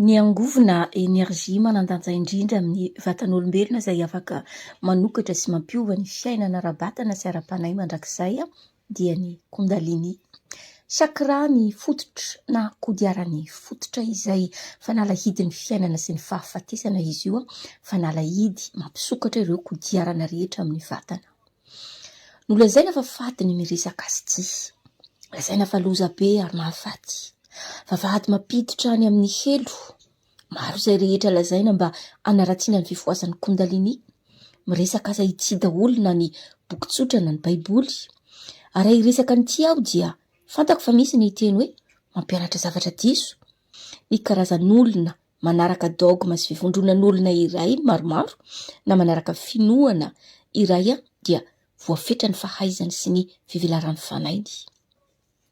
Ny angovo na energie manan-danja indrindra amin'ny vatan'olombelona izay afaka manokatra sy mampiova ny fiainana ara-batana sy ara-panahy mandrakizay dia ny Kundalini. Chakra ny fototra na kodiaran'ny fototra izay fanalahidin'ny fiainana sy ny fahafatesana izy io, fanalahidy mampisokatra ireo kodiarana rehetra amin'ny vatana. Nolazaina fa faty ny miresaka azy ity. Lazaina fa loza be ary mahafaty. Vavahady mampiditra any amin'ny helo. Maro izay rehetra lazaina mba hanaratsiana ny fifohasan'ny Kundalini. Miresaka aza ity daholo na ny boky tsotra na ny Baiboly. Ary raha hiresaka an'ity aho dia fantako fa misy ny hiteny hoe mampianatra zavatra diso. Ny karazan'olona manaraka dogma sy fivondronan'olona iray maromaro na manaraka finoana iray dia voafetra ny fahaizany sy ny fivelaran'ny fanainy.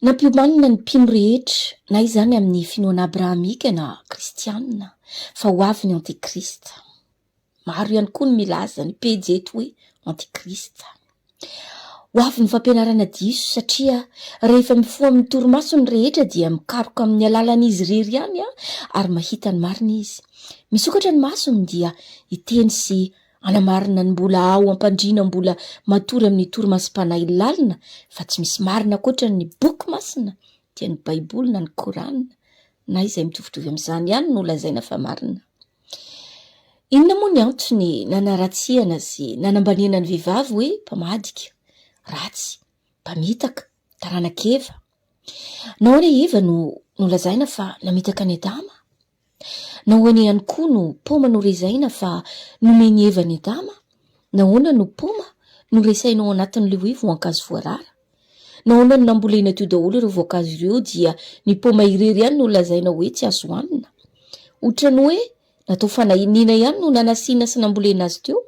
Nampiomanina ny mpino rehetra, na izany amin'ny finoana abrahamika na kristiana, fa ho avy ny Antikrista. Maro ihany koa ny milaza ny pejy eto hoe antikrista. Ho avy ny fampianarana diso satria rehefa mifoha amin'ny torimaso ny rehetra dia mikaroka amin'ny alalan'izy irery ihany ary mahita ny marina izy. Misokatra ny masony dia hiteny sy hanamarina ny mbola ao am-pandriana mbola matory amin'ny torimasom-panahy lalina fa tsy misy marina ankoatra ny boky masina dia ny baiboly na ny korana na izay mitovitovy amin'izany ihany no lazaina fa marina. Inona moa ny antony nanaratsihana sy nanambaniana ny vehivavy hoe mpamadika, ratsy, mpamitaka, taranak'Eva? Nahoana i Eva no nolazaina fa namitaka an'i Adama? Nahoana ihany koa no paoma norezaina fa nomen'i Eva an'i Adama? Nahoana no paoma no resaina ao anatin'ilay hoe voankazo voarara? Nahoana no nambolena teo daholo ireo voankazo ireo dia ny paoma irery ihany no lazaina hoe tsy azo hanina? Ohatran'ny hoe natao fanahiniana ihany no nanasina sy nambolena azy teo?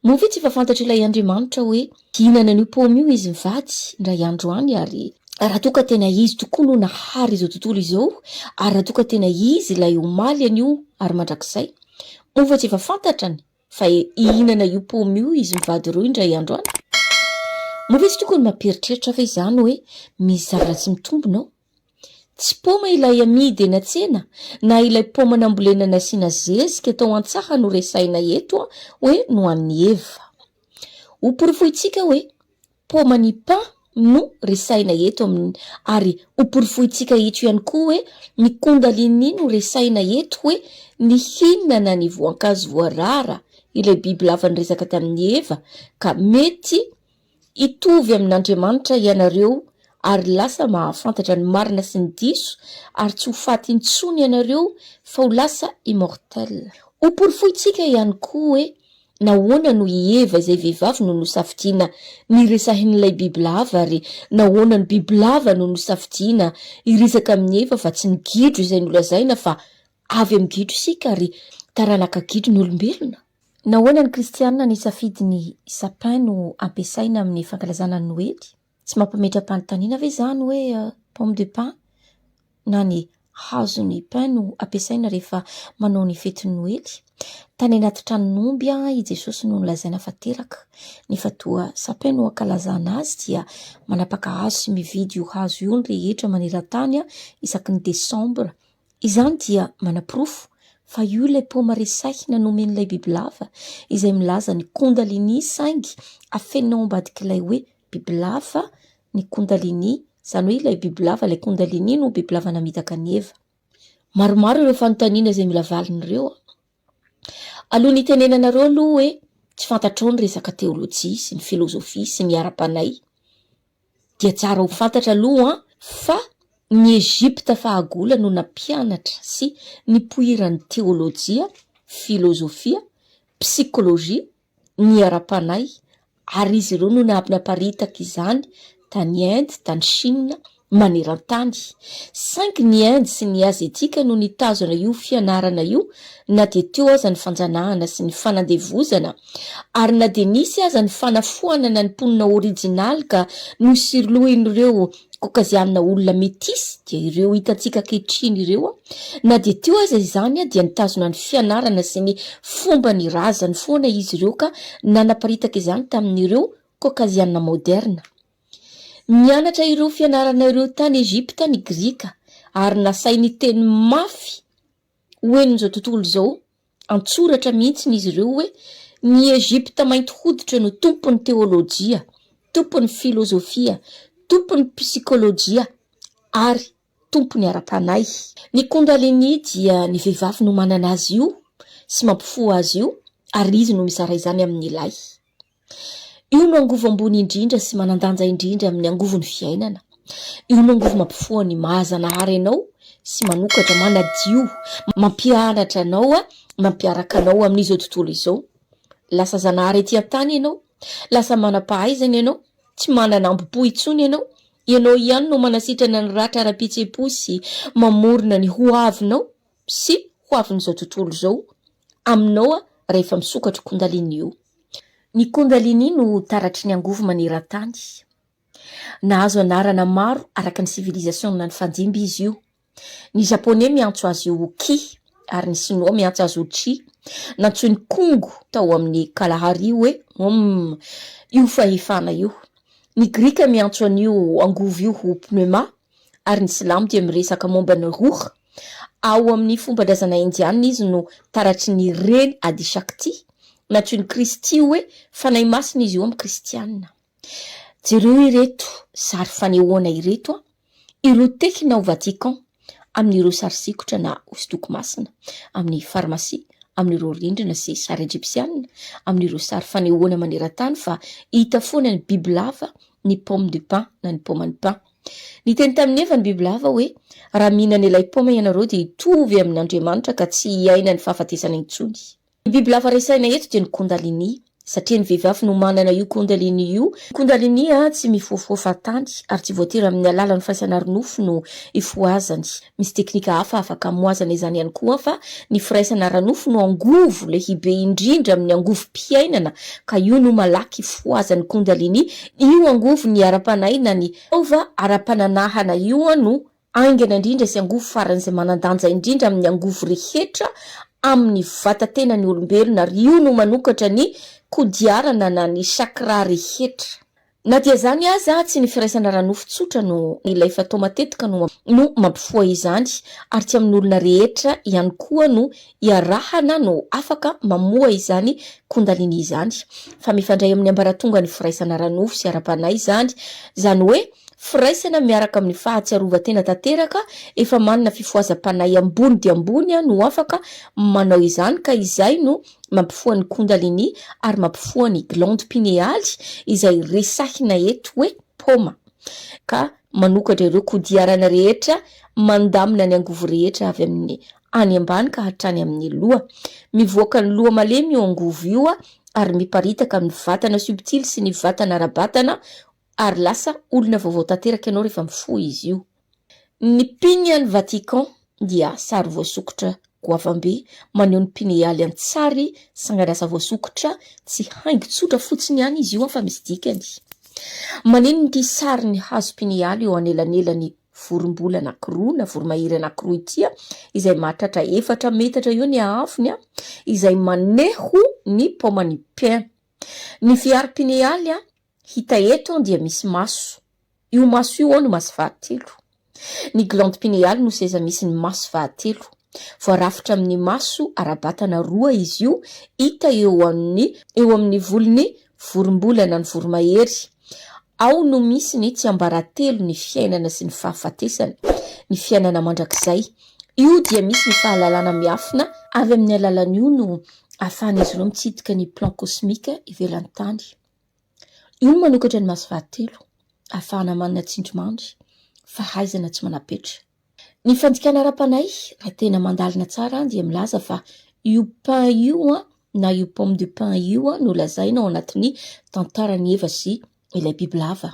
Moa ve tsy efa fantatr'ilay Andriamanitra hoe hihinana an'io paoma io izy mivady indray andro any ary raha toa ka tena izy tokoa no nahary izao tontolo izao ary raha toa ka tena izy ilay omaly anio ary mandrakizay? Moa ve tsy efa fantatrany Fa hihinana io paoma io izy mivady roa indray andro any? Moa ve tsy tokony mampieritreritra ve izany hoe misy zavaratsy mitombina ao? Tsy paoma ilay amidy eny an-tsena na ilay paoma nambolena nasiana zezika tao an-tsaha no resahina eto hoe nohanin'i Eva. Hoporofointsika hoe Paoma ny pain no resahina eto amin ary ho porofointsika eto ihany koa hoe ny kundalini no resahina eto hoe ny hihinana ny voankazo voarara ilay biby lava niresaka tamin'i Eva ka mety hitovy amin'Andriamanitra ianareo ary lasa mahafantatra ny marina sy ny diso ary tsy ho faty intsony ianareo fa ho lasa immortel. Ho porofointsika ihany koa hoe Nahoana no i Eva izay vehivavy no nosafidiana? Niresahin'ilay bibilava ary nahoana ny bibilava no nosafidiana hiresaka amin'i Eva fa tsy ny gidro izay nolazaina fa avy amin'ny gidro isika ary taranaka gidro ny olombelona? Nahoana ny Kristianina nisafidy ny sapin no ampiasaina amin'ny fankalazana ny Noely? Tsy mampimetra-panontaniana ve izany hoe pomme de pin na ny hazon'ny pin no ampiasaina rehefa manao ny fetin'ny Noely? Tany anaty tranon'omby i Jesosy no nolazaina fa teraka, nefa toa sapin no ankalazana azy dia manapaka hazo sy mividy io hazo io ny rehetra maneran-tany isaky ny desambra Izany dia manaporofo fa io ilay paoma resahina nomen'ilay bibilava izay milaza ny kundalini saingy afenina ao ambadik'ilay hoe bibilava ny kundalini, izany hoe ilay bibilava ilay kundalini no bibilava namitaka an'i Eva. Maromaro ireo fanontaniana izay mila valiny ireo. Aloha ny hitenenanareo aloha hoe tsy fantatrao ny resaka teolojia sy ny filozofia sy ny ara-panahy dia tsara ho fantatra aloha fa ny Egypta fahagola no nampianatra sy nipoiran'ny teolojia, filozofia, psikolojia ny ara-panahy ary izy ireo no niaby naparitaka izany tany Inde, tany Shina, maneran-tany. Saingy ny Inde sy ny Azetika no nitazona io fianarana io na dia teo aza ny fanjanahana sy ny fanandevozana ary na dia nisy aza ny fanafoanana ny mponina orijinaly ka nosirlohin'ireo kokazianina olona metisy dia ireo hitantsika ankehitriny ireo na dia teo aza izany dia nitazona ny fianarana sy ny fomba ny razany foana izy ireo ka nanaparitaka izany tamin'ireo kokazianina moderna. Mianatra ireo fianarana ireo tany Egypta ny Grika ary nasainy teny mafy ho henon'izao tontolo izao, an-tsoratra mihitsy izy ireo hoe ny Egypta mainty hoditra no tompon'ny teolojia, tompon'ny filozofia, tompon'ny psikolojia ary tompon'ny ara-panahy. Ny Kundalini dia ny vehivavy no manana azy io sy mampifoha azy io ary izy no mizara izany amin'ny lahy. Io no angovo ambony indrindra sy manan-danja indrindra amin'ny angovon'ny fiainana. Io no angovo mampifoha ny maha-Zanahary anao sy manokatra, manadio, mampianatra anao, mampiaraka anao amin'izao tontolo izao. Lasa Zanahary ety an-tany ianao, lasa manam-pahaizana ianao, tsy manana ambo-po intsony ianao. Ianao ihany no manasitrana ny ratra ara-pihetseham-po sy mamorona ny hoavinao sy hoavin'izao tontolo izao. aminao rehefa misokatra kundalini io. Ny kundalini no taratry ny angovo maneran-tany. Nahazo anarana maro araka ny sivilizasiona ny fanjimby izy io. Ny Japoney miantso azy io ho Ki ary ny Sinoa miantso azy ho Chi. Nantsoin'i Kongo tao amin'ny Kalahari hoe Om io fahefana io. Ny Grika miantso an'io angovo io ho Pneuma ary ny silamo dia miresaka momba ny ruh, ao amin' ny fomban-drazana indiana izy no taratry ny reny Adi Shakti, nantsoin' ny Kristy hoe fanahy masina izy io amin' ny Kristiana. Jereo ireto sary fanehoana ireto ireo tekina ao Vatican amin' ireo sary sikotra na hosodoko masina, amin' ny farmasia, amin' ireo rindrina sy sary ejipsiana, amin' ireo sary fanehoana maneran-tany fa hita foana ny bibilava, ny pomme de pin na ny pomme de pin. Niteny tamin'i Eva ny bibilava hoe, Raha mihinana ilay paoma ianareo dia hitovy amin'Andriamanitra ka tsy hiaina ny fahafatesana intsony. Ny bibilava resahina eto dia ny Kundalini, satria ny vehivavy no manana io Kundalini io. Ny Kundalini tsy mifohafoha fahatany ary tsy voatery amin'ny alalan'ny firaisana ara-nofo no ifohazany. Misy teknika hafa afaka amoazana izany ihany koa fa ny firaisana ara-nofo no angovo lehibe indrindra amin'ny angovom-piainana ka io no malaky fohazan'ny Kundalini, io angovon'ny ara-panahy na ny taova ara-pananahana io no aingana indrindra sy angovo faran'izay manan-danja indrindra amin'ny angovo rehetra amin'ny vata-tenan'ny olombelona ary io no manokatra ny kodiarana na ny chakra rehetra. Na dia izany aza, tsy ny firaisana ara-nofo tsotra no nilay fa toa matetika no no mampifoha izany ary tsy amin'olona rehetra ihany koa no iarahana no afaka mamoha izany Kundalini izany fa mifandray amin'ny ambaratongan'ny firaisana ara-nofo sy ara-panahy izany, izany hoe firaisana miaraka amin'ny fahatsiarovan-tena tanteraka efa manana fifohazam-panahy ambony dia ambony no afaka manao izany ka izay no mampifoha ny kundalini ary mampifoha ny glandes pinealy izay resahina eto hoe paoma ka manokatra ireo kodiarana rehetra mandamina ny angovo rehetra avy amin'ny any ambany ka hatrany amin'ny loha. Mivoaka ny loha malemy io angovo io ary miparitaka amin'ny vatana subtil sy ny vatana ara-batana ary lasa olona vaovao tanteraka ianao rehefa mifoha izy io. Ny mpino any Vatican dia sary voasokitra goavambe maneho ny mpino hialy an-tsary sanganasa voasokitra tsy haingo tsotra fotsiny ihany izy io fa misy dikany. Maneno ity sary ny hazo mpino hialy eo anelanelan'ny vorombola anankiroa na voromahery anankiroa ity izay mahatratra efatra metatra eo ny haavony izay maneho ny paoman'ny pin. Ny fihary mpino hialy Hita eto dia misy maso. Io maso io ao no maso fahatelo. Ny glande pinéale no seza misy ny maso fahatelo. Voarafitra amin'ny maso ara-batana roa izy io, hita eo amin'ny eo amin'ny volon'ny vorombolana ny voromahery. Ao no misy ny tsiambaratelo ny fiainana sy ny fahafatesana, ny fiainana mandrakizay. Io dia misy ny fahalalana miafina. Avy amin'ny alalan'io no ahafahan'izy ireo mitsidika ny plan cosmique ivelan'ny tany. Io no manokatra ny maso fahatelo, ahafahana manana tsindrimandry, fahaizana tsy manam-petra. Ny fandikana ara-panahy, raha tena mandalina tsara dia milaza fa io pain io na io pomme de pain io no lazaina ao anatin'ny tantaran'i Eva sy ilay bibilava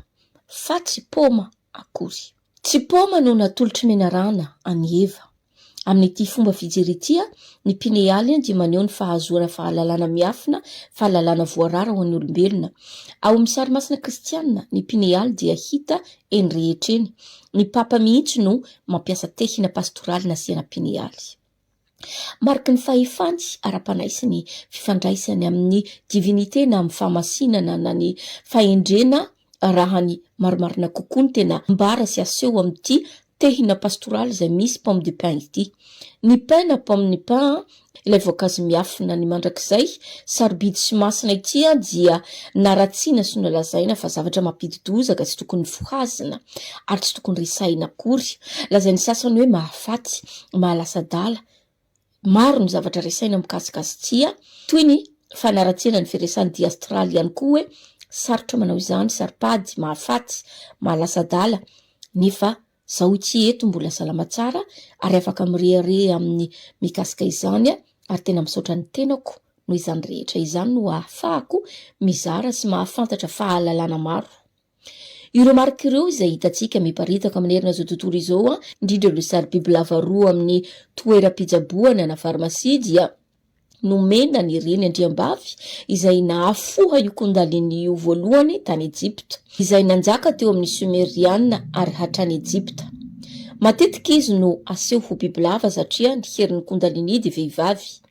fa tsy paoma akory. Tsy paoma no natolotr'i Menarana an'i Eva. Amin'ity fomba fijery ity, ny pinealy dia maneho ny fahazoana fahalalana miafina, fahalalana voarara ho an'ny olombelona. Ao amin'ny sary masina kristiana, ny pinealy dia hita eny rehetra eny. Ny papa mihitsy no mampiasa tehina pastoraly nasiana pinealy. Mariky ny fahefany ara-panahy sy ny fifandraisany amin'ny divinite na amin'ny fahamasinana na ny fahendrena raha ny marimarina kokoa ny tena ambara sy aseho amin'ity tehina pastoraly izay misy pomme de pin ity. Ny pin na pomme ny pin ilay voankazo miafina ny mandrakizay sarobidy sy masina ity dia naratsiana sy nolazaina fa zavatra mampidi-doza ka tsy tokony fohazina ary tsy tokony resahina akory. Lazain'ny sasany hoe mahafaty maha lasa adala. Maro ny zavatra resaina mikasika azy tsia, toy ny fanaratsiana ny firesahan'i Diastrale ihany koa hoe sarotra manao izany, saro-pady, mahafaty, maha lasa adala, nefa zaho ity eto mbola salama tsara ary afaka mirehareha amin'ny mikasika izany ary tena misaotra ny tenako noho izany rehetra izany no ahafahako mizara sy mahafantatra fahalalana maro. Ireo marika ireo izay hitantsika miparitaka manerana izao tontolo izao, indrindra ireo sary bibilava roa amin'ny toeram-pitsaboana na farmasia dia nomena ny reny andriambavy izay nahafoha io Kundalini io voalohany tany Ejipta, izay nanjaka teo amin'ny Sumeriana ary hatrany Ejipta. Matetika izy no aseho ho bibilava satria ny herin'ny Kundalini dia vehivavy.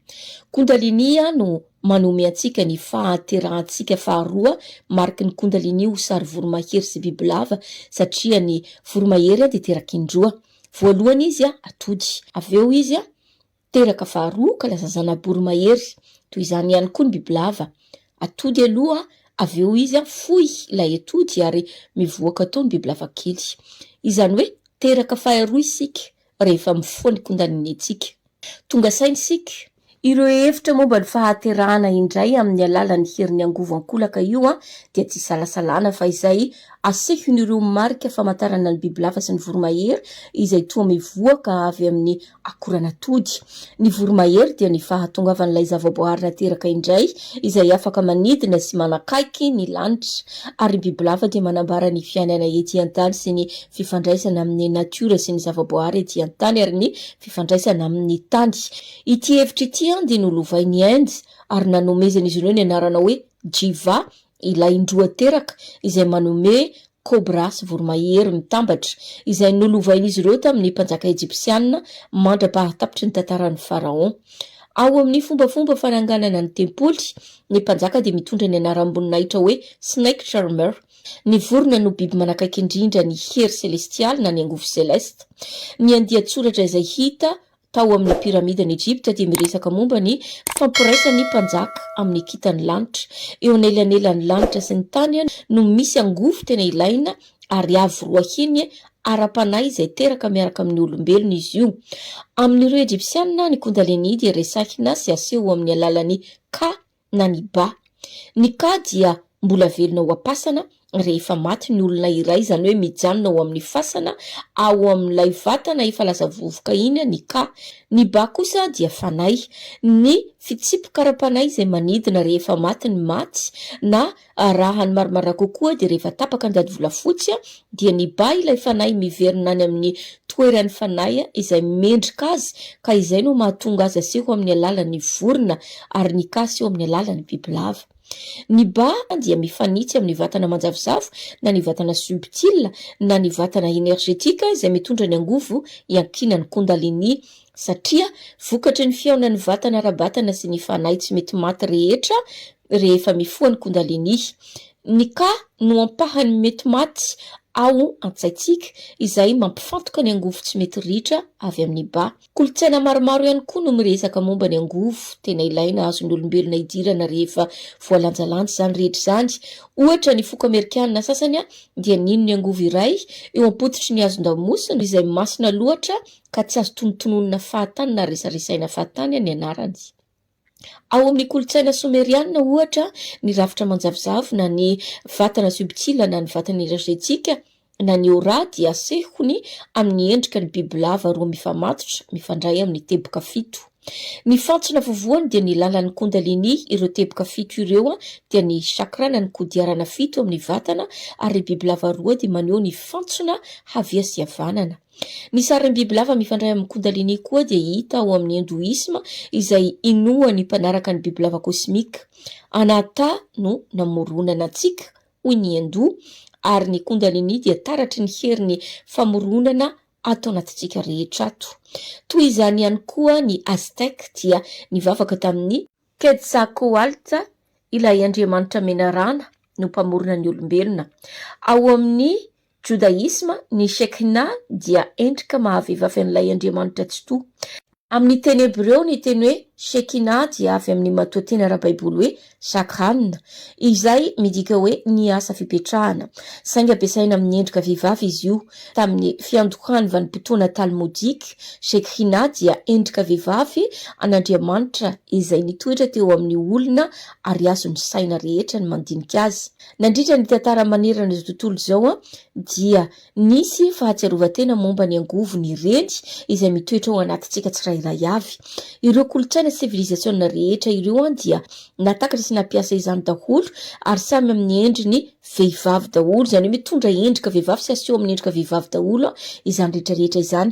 Kundaliniya no manome antsika ny fahaterahantsika faharoa mariky ny Kundalini ho sary voromahery sy bibilava satria ny voromahery dia teraka indroa. Voalohany izy atody, avy eo izy teraka faharoa ka lasa zana-boromahery. Toy izany ihany koa ny bibilava, atody aloha avy eo izy fohy ilay atody ary mivoaka tao ny bibilava kely. Izany hoe teraka faharoa isika rehefa mifoha ny kondanineantsika. Tonga saina isika. Ireo hevitra momba ny fahaterahana indray amin'ny alalan'ny herin'ny angovo ankolaka io dia tsy isalasalana fa izay asehon'ireo marika famantarana ny bibilava sy ny voromahery izay toa mivoaka avy amin'ny akoran'atody. Ny voromahery dia ny fahatongavan'ilay zavaboahary nateraka indray izay afaka manidina sy manakaiky ny lanitra ary ny bibilava dia manambara ny fiainana ety an-tany sy ny fifandraisana amin' ny natiora sy ny zavaboahary ety an-tany ary ny fifandraisana amin' ny tany. Ity hevitra ity dia nolovain' i Inde ary nanomezan' izy ireo ny anarana hoe Jiva, ilay indroa teraka izay manome kôbra sy voromahery mitambatra, izay nolovain' izy ireo tamin' ny mpanjaka ejipsiana mandra-pahatapitry ny tantaran' ny faraon. Ao amin' ny fombafomba fananganana ny tempoly, ny mpanjaka dia mitondra ny anaram-boninahitra hoe Snake Charmer, Ny vorona no biby manakaiky indrindra ny hery selestialy na ny angovo selesta. Ny andian-tsoratra izay hita tao amin'ny piramidan'i Ejipta dia miresaka momba ny fifampiraisan'ny mpanjaka amin'ny kintan'ny lanitra. Eo anelanelan'ny lanitra sy ny tany no misy angovo tena ilaina ary avo roa heny ara-panahy izay teraka miaraka amin'ny olombelona izy io. Amin'ireo Ejipsianina, ny Kundalini dia resahina sy aseho amin'ny alalan'ny ka, na ny ba. Ny ka dia mbola velona ao am-pasana rehefa maty ny olona iray, izany hoe mijanona ao amin'ny fasana ao amin'ilay vatana efa lasa vovoka iny ny ka. Ny ba kosa dia fanahy, ny fitsipika ara-panahy izay manidina rehefa maty ny maty na Arahany marimarina kokoa dia rehefa tapaka ny dadivolafotsy dia nibaha ilay fanahy miverina any amin'ny toeran'ny fanahy izay mendrika azy ka izay no mahatonga azy aseho amin'ny alalan'ny vorona ary ny ka aseho amin'ny alalan'ny bibilava. Ny ba dia mifanitsy amin'ny vatana manjavozavo na ny vatana subtil na ny vatana energetika izay mitondra ny angovo iankinan'ny kundalini satria vokatry ny fihaonan'ny vatana ara-batana sy ny fanahy tsy mety maty rehetra rehefa mifoha ny Kundalini. Ny Ka no ampahan'ny mety maty ao an-tsaintsika, izay mampifantoka ny angovo tsy mety ritra avy amin'ny Ba. Kolontsaina maromaro ihany koa no miresaka momba ny angovo tena ilaina azon'olombelona hidirana rehefa voalanjalanja izany rehetra izany. Ohatra, ny foko amerikana sasany dia nino ny angovo iray eo am-pototry ny hazon-damosina izay masina loatra ka tsy azo tonontononina fahatany na resaresaina fahatany ny anarany. Ao amin'ny kolontsaina someriana, ohatra, ny rafitra manjavozavo na ny vatana zobitsila na ny vatana energetika na ny aura dia asehony amin'ny endrika ny bibilava roa mifamatotra mifandray amin'ny teboka fito. Ny fantsona vovohany dia ny lalan'ny kundalini, ireo teboka fito ireo dia ny chakra na ny kodiarana fito amin'ny vatana ary ny bibilava roa dia maneho ny fantsona havia sy havanana. Ny sarin'ny bibilava mifandray amin'ny Kundalini koa dia hita ao amin'ny Hindoisma izay inoan'ny mpanaraka ny bibilava kosmika. Anahata no namoronana antsika, hoy ny Hindoa, ary ny Kundalini dia taratry ny herin'ny famoronana ato anatintsika rehetra ato. Toy izany ihany koa ny Aztèques dia nivavaka tamin'i. Quetzalcoatl, ilay andriamanitra menarana, no mpamorona ny olombelona. Ao amin'ny. Jodaisma, ny Shekhinah dia endrika maha-vehivavy an'ilay Andriamanitra Tsitoha. Amin'ny teny hebreo, ny teny hoe Shekhinah dia avy amin'ny matoanteny ara-baiboly hoe shakhan, izay midika hoe ny asa fipetrahana. Saingy ampiasaina amin'ny endrika vehivavy izy io. Tamin'ny fiandohan'ny vanim-potoana Talmodika, Shekhinah dia endrika vehivavy an'Andriamanitra izay nitoetra teo amin'ny olona ary azon'ny saina rehetra ny mandinika azy. Nandritra ny tantara manerana izao tontolo izao dia nisy fahatsiarovan-tena momba ny angovo ny reny izay mitoetra ao anatintsika tsirairay avy. Ireo kolontsaina sy sivilizasiona rehetra ireo dia nahatakatra sy nampiasa izany daholo ary samy amin'ny endriny vehivavy daholo, izany hoe mitondra endrika vehivavy sy aseho amin'ny endrika vehivavy daholo izany rehetra rehetra izany.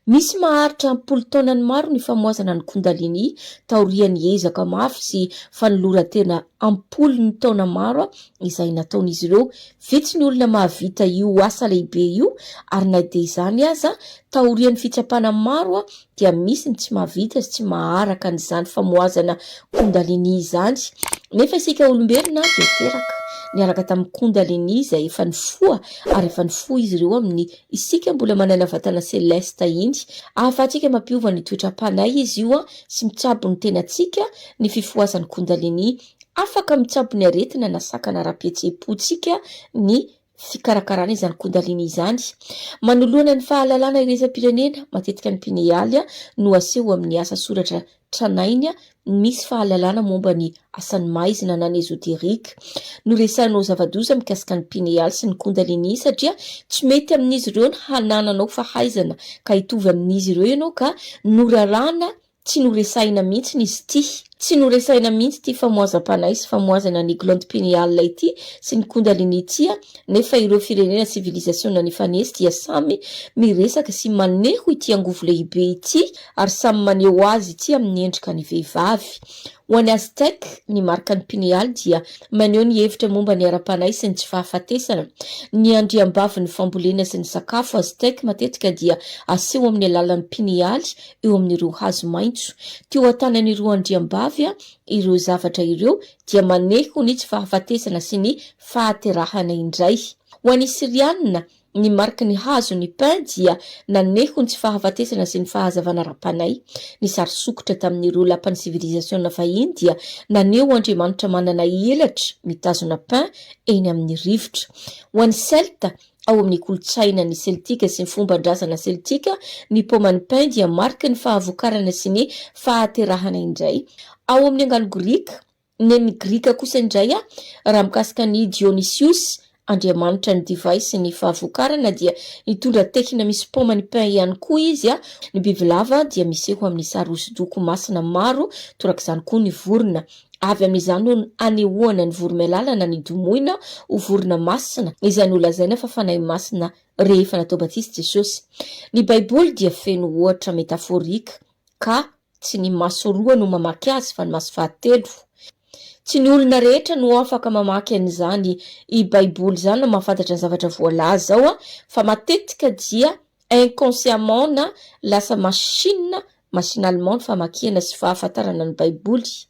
Misy maharitra am-polo taonany maro ny famohazana ny Kundalini taorian'ny ezaka mafy sy fanoloran-tena am-polony taona maro izay nataon'izy ireo. Vitsy ny olona mahavita io asa lehibe io ary na dia izany aza, taorian'ny fitsapana maro dia misy ny tsy mahavita sy tsy maharaka an'izany famohazana Kundalini izany. Nefa isika olombelona dia teraka niaraka tamin'ny Kundalini izay efa nifoha ary efa nifoha izy ireo amin'ny isika mbola manana vatana selesta iny. Ahafahantsika mampiova ny toetram-panahy izy io sy mitsabo ny tenantsika ny fifohazan'ny Kundalini, afaka mitsabo ny aretina na sakana ara-pihetseham-pontsika ny fikarakarana izany Kundalini izany. Manoloana ny fahalalana iraisampirenena, matetika ny pinealy no aseho amin'ny asa soratra tranainy misy fahalalana momba ny asan'ny maizina na ny esoteric. Noresahinao zava-doza mikasika ny pinealy sy ny Kundalini satria tsy mety amin'izy ireo ny hanananao fahaizana ka hitovy amin'izy ireo ianao ka noraràna Tsy noresahina mihitsy izy ity. Tsy noresahina mihitsy ity famoazam-panahy sy famoazana ny Glande Pineale ity sy ny Kundalini ity an, nefa ireo firenena sivilizasiona nifanesy dia samy miresaka sy maneho ity angovo lehibe ity ary samy maneho azy ity amin'ny endrika ny vehivavy. Ho an'ny Aztèque, ny marikan'ny Pineale dia maneho ny hevitra momba ny ara-panahy sy ny tsy fahafatesana. Ny andriambavin'ny fambolena sy ny sakafo Aztèque matetika dia aseho amin'ny alalan'ny Pineale eo amin'ireo hazo maitso. Teo an-tanan'ireo andriambavy ireo zavatra ireo, dia maneho ho ny tsy fahafatesana sy ny fahaterahana indray. Ho an'ny Syriana, ny mariky ny hazo, ny pin, dia naneho ny tsy fahafatesana sy ny fahazavana ara-panahy. Ny sary sokitra tamin'ireo lapan'ny sivilizasiona vahiny dia naneho andriamanitra manana elatra mitazona pin eny amin'ny rivotra. Ho an'ny Celtes, Ao amin' ny kolontsaina ny Seltika sy ny fomban-drazana seltika, ny paoman'ny pin dia mariky ny fahavokarana sy ny fahaterahana indray. Ao amin' ny angano grika, nen' ny Grika kosa indray, raha mikasika an' i Dionysiosy, andriamanitra ny divay sy ny fahavokarana, dia nitondra tehina misy paoman'ny pin ihany koa izy. Ny bibilava dia miseho amin' ny sary hosodoko masina maro, torak'izany koa ny vorona. Avy amin'izany no anehoana ny voromailala-na ny domoina ho vorona masina izay nolazaina fa fanahy masina rehefa natao batisa i Jesosy. Ny Baiboly dia feno ohatra metaforika ka tsy ny maso roa no mamaky azy fa ny maso fahatelo. Tsy ny olona rehetra no afaka mamaky an'izany i Baiboly izany na mahafantatra ny zavatra voalaza ao fa matetika dia Inconsciemment na lasa machine machinalement ny famakiana sy fahafantarana ny Baiboly.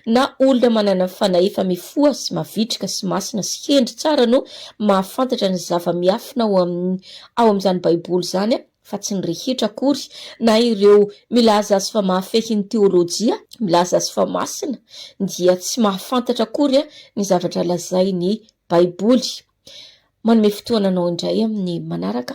Na olona manana fanahy efa mifoha sy mavitrika sy masina sy hendry tsara no mahafantatra ny zava-miafina ao amin'ny ao amin'izany Baiboly izany fa tsy ny rehetra akory, na ireo milaza azy fa mahafehy ny teolojia, milaza azy fa masina, dia tsy mahafantatra akory ny zavatra lazain'ny Baiboly. Manome fotoana anao indray amin'ny manaraka.